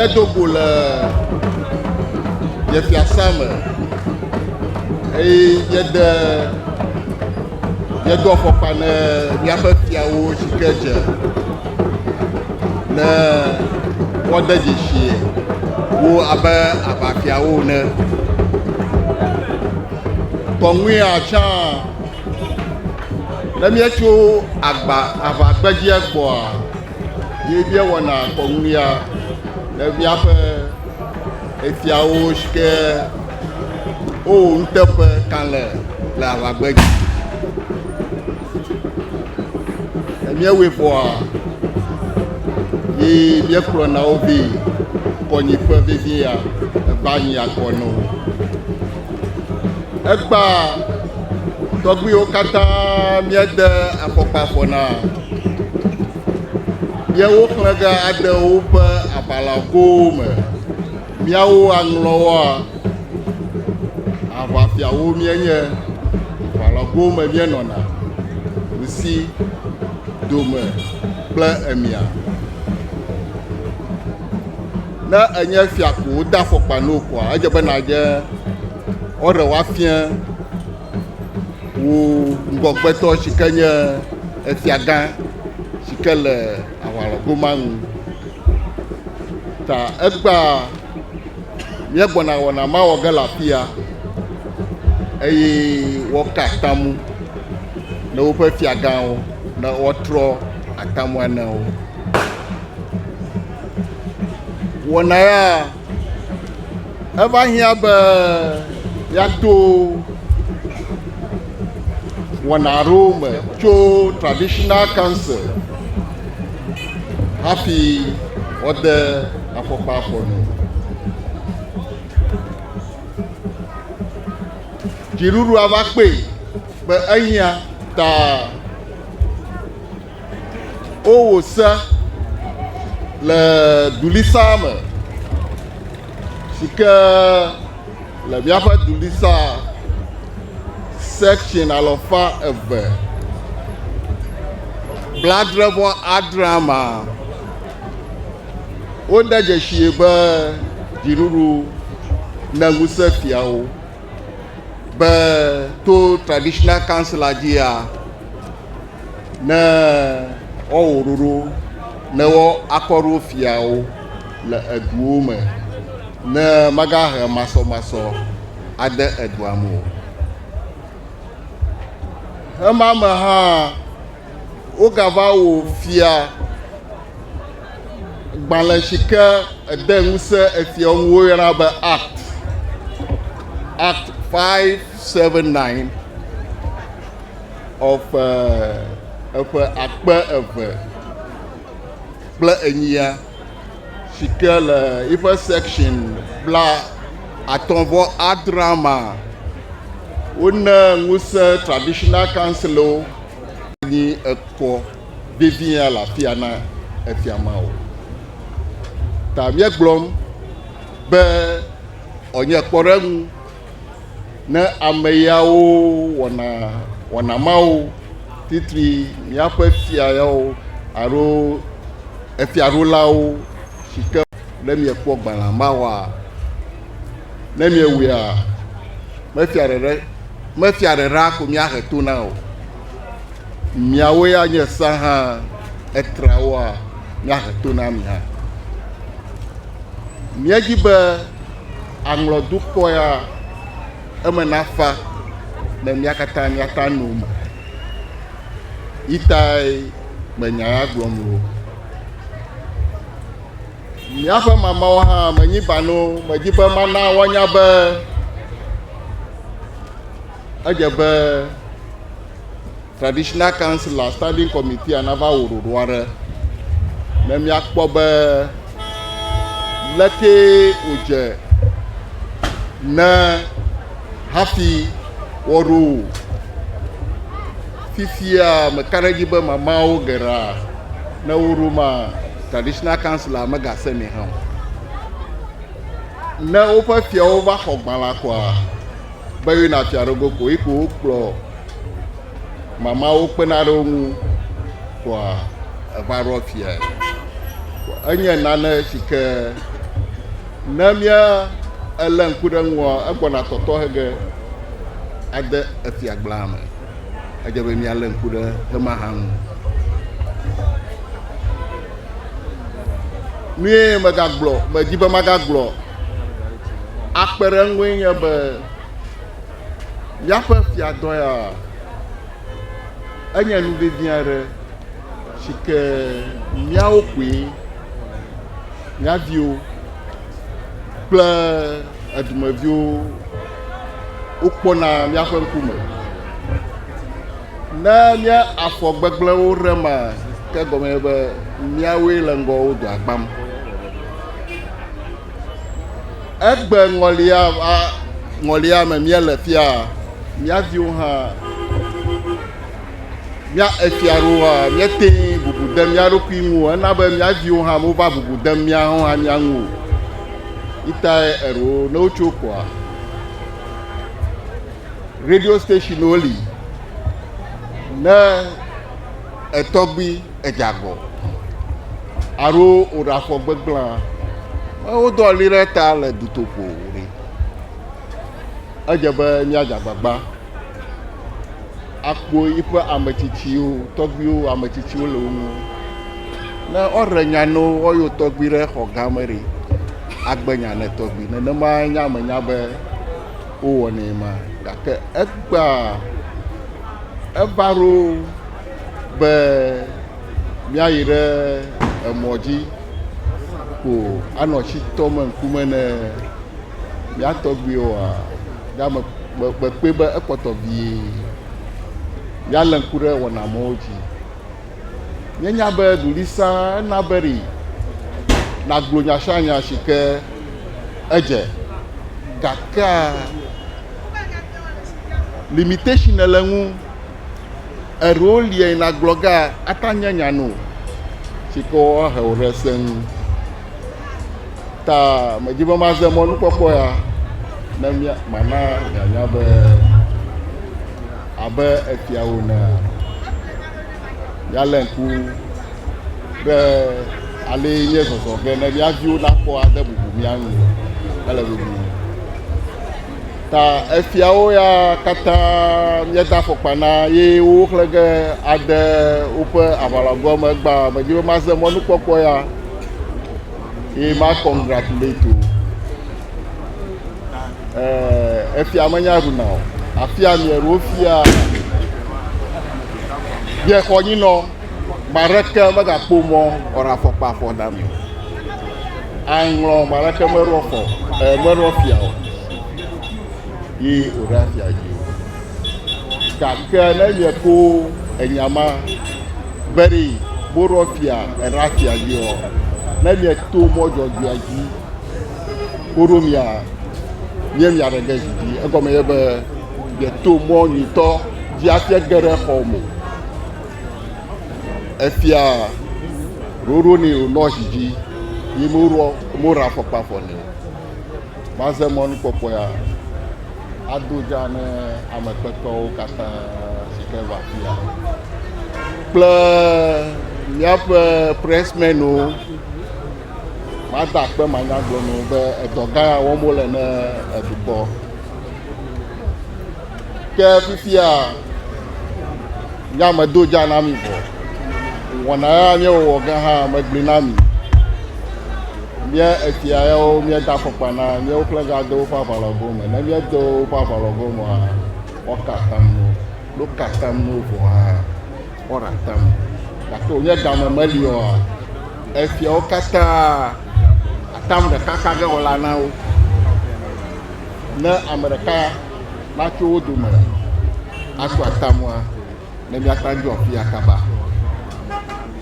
míedo go le yefiasa me eye yede Míedo afɔkpa ne míaƒe fiawo si ke dze ne woade dzesi wo abe aʋafiawo ene. Kɔŋuia tsã, ne míetso agba aʋagbedzia gbɔa, ye míewɔna kɔŋuia ne míaƒe fiawo si ke. Wowò nuteƒe kalẽ le aʋagbe dzi. Míewɔe vɔa, ye míekplɔ na wo vɛ kɔnyiƒe vevie ya eba nyi akɔ na wo. Egba tɔgbuiwo katã míede afɔkpa afɔ na. Yewo xlẽ ge ade woƒe aʋalagowo me. Míawo aŋlɔwoa, aʋafiawo míenye, ʋalɔgowo me míenɔna, ŋsi, dome kple emia. Ne enye fia ko wode afɔkpa no koa, edze be nàdze ɔɖe woafia wò ŋgɔgbetɔ si ke nye efiagã si ke le. aʋalɔgo ma ŋu. Ta egbea míegbɔna wɔna ma wɔ ge le afia eye woka atamu ne woƒe fiagãwo ne woatrɔ atamua ne wo. Wɔna ya Eva hiã be yɛato wɔna aɖewo me tso traditional council hafi wɔde afɔkpa afɔ nu. Dziɖuɖua va kpee be ehiã ta wowò se le dulisa me si ke le míaƒe dulisa section alɔfa eve bladre vɔ adrea ma. Wode dzesi be dziɖuɖu ne ŋusẽ fiawo be to traditional council la dzia Ne woawɔ ɖoɖo ne woakɔ ɖo fiawo le eduwo me ne magahe masɔmasɔ ade edua me o. Ema me hã wogava wɔ fia gbalẽ si ke ede ŋusẽ efiawo ŋu woyɔna be Act Act 579. Xɔ ƒe eƒe akpe eve kple enyia si ke le eƒe section bla atɔ̃ vɔ adre ma, wone ŋusẽ traditional councilwo nyi ekɔ vevia le afia na efia ma o. Ta míegblɔm be ɔnye kpɔɖeŋu. Ne ame yawo wɔna wɔna mawo, titri míaƒe fia yawo alo efiaɖulawo si ke ne miekpɔ gbalẽa mawɔa, ne miewɔa, mefia ɖeɖe mefia ɖeɖea ko míahe to na o. Miawo ya nye sea hã etrawoa, míahe to na mi hã. Míedi be. aŋlɔ dukɔ ya, eme nafa ne mía katã míata nu me. Yi tae menya ya gblɔm wo. Míaƒe mamawo hã menyi bano, medi be mana woanya be edze be Traditional Councillor Standing Committeea nava wɔ ɖoɖo aɖe ne míakpɔ be lekee wòdze ne hafi woaɖo wò. Fifia meka ɖe edzi be mamaawo geɖea ne woɖo ma Traditional Councillor megasenɛ hã o. Ne woƒe fiawo va xɔ gbalẽa koa, be yina fia ɖe go ko iko wokplɔ mamawo kpena ɖe wo ŋu kɔa eva ɖɔ fia enye nane si ke ne mía ele ŋku ɖe ŋua egbɔna tɔtɔ hege ade efia gblaa me edze be mía le ŋku ɖe hema hã ŋu nue megagblɔ medi be magagblɔ akpe ɖe eŋue nye be míaƒe fiadɔ ya enye nu vevi aɖe si ke míawo koe, mía viwo kple edumeviwo wokpɔna míaƒe ŋkume. Ne mía afɔ gbegblẽwo ɖe ma, ke egɔme nye be míawoe le ŋgɔ wo dɔa gbãm. Egbe ŋɔlia va ŋɔlia me míele fia, mía viwo hã, mía efia ɖo hã, míete bubu de mía ɖokui ŋu o. Ena be mía viwo hã mova bubu de mía hã mía ŋu o. Itae eɖo ne wotso kɔa, radio stationwo li ne etɔgbui edze agɔ alo wòɖaxɔ gbegblẽa, wodɔ ɣli ɖe eta le dutoƒo ɖi. Edze be míadze agbagba akpo yiƒe ame tsitsiwo, tɔgbuiwo ame tsitsiwo le wo ŋu. Ne woaɖe nya ne wo woayɔ tɔgbui ɖe xɔ gã me ɖi agbe nya ne tɔgbui. Nenema nye ame nya be wowɔnɛ ma gake egbea eva ɖo be míayi ɖe emɔ dzi ko anɔ tsi tɔm ŋkume ne mía tɔgbuiwoa, ɖe ame mekpɔe be ekpɔtɔ vie míalé ŋku ɖe wɔna mawo dzi. Míenya be ɖuɖisã ena beri nàgblɔ nya sia nya si ke edze, gakea limitation le eŋu. Eɖewo lia yi nàgblɔ ge ata nye nya no si ke woahe wò ɖe se ŋu. Ta medi be maze mɔnukpɔkpɔ ya ne mia mana mianya be abe efiawo nea, míalé ŋku ɖe ale nye zɔzɔ ge ne mía viwo nakpɔ ade bubu mía ŋu. Ele vevie. Ta efiawo ya katã míeda afɔkpa na ye woxlẽ ge ade woƒe aʋalɔgoa me gbã. Medi be maze mɔnukpɔkpɔ ya ye ma congratulate wo. Eh, efia menya ɖuna o. Afia mieɖo fia. Ye xɔ nyinɔ. Ame aɖeke megakpɔ mɔ wɔna afɔkpa xɔ na mi o. Aŋlɔ ame aɖeke meɖɔ xɔ e meɖɔ fia o. Ye wòɖe afia dzi o. Gake ne mieko enya ma be ɖi woɖɔ fia eɖe afia dzi o. Ne mieto mɔ dzɔdzɔea dzi woɖo mia mie mia ɖe ge dzi. Egɔme ye be mieto mɔ nyitɔ dzi afia ge ɖe xɔ mo. Efia ɖoɖo ni wònɔ zi dzi yi moɖɔ moɖe afɔkpa fɔ nɛ o. Maze mɔnukpɔkpɔea ado dza ne ame kpekpewo katã si ke va fia kple míaƒe presmenwo. Mada akpe manyagblɔnuwo be edɔ gã ya wɔm wole ne edukɔ. Ke fifia nyamedo dza na mi vɔ. Wɔna ya miewɔwɔ ge hã megblɔe na mi. Mía efia yawo míeda afɔkpa na míawo ƒlega de woƒe aʋalɔgowo me. Ne míede woƒe aʋalɔgowo mea, woaka atam no. Ne woka atam no vɔa, woaɖe atam. Gake wònye game meli oa, efiawo katã atam ɖeka ka ge wɔla na wo. Ne ame ɖeka natso wo dome asu atamua ne míakpa ŋdzo afia kaba.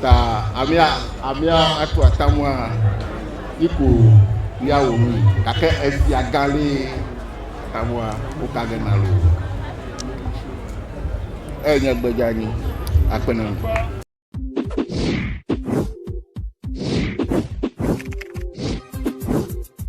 Ta amea amea asu atamua yi ko míawɔ nui gake esia gã ɖe atamua woka ge na loo. Eya nye gbe dzeanyi akpe na mi.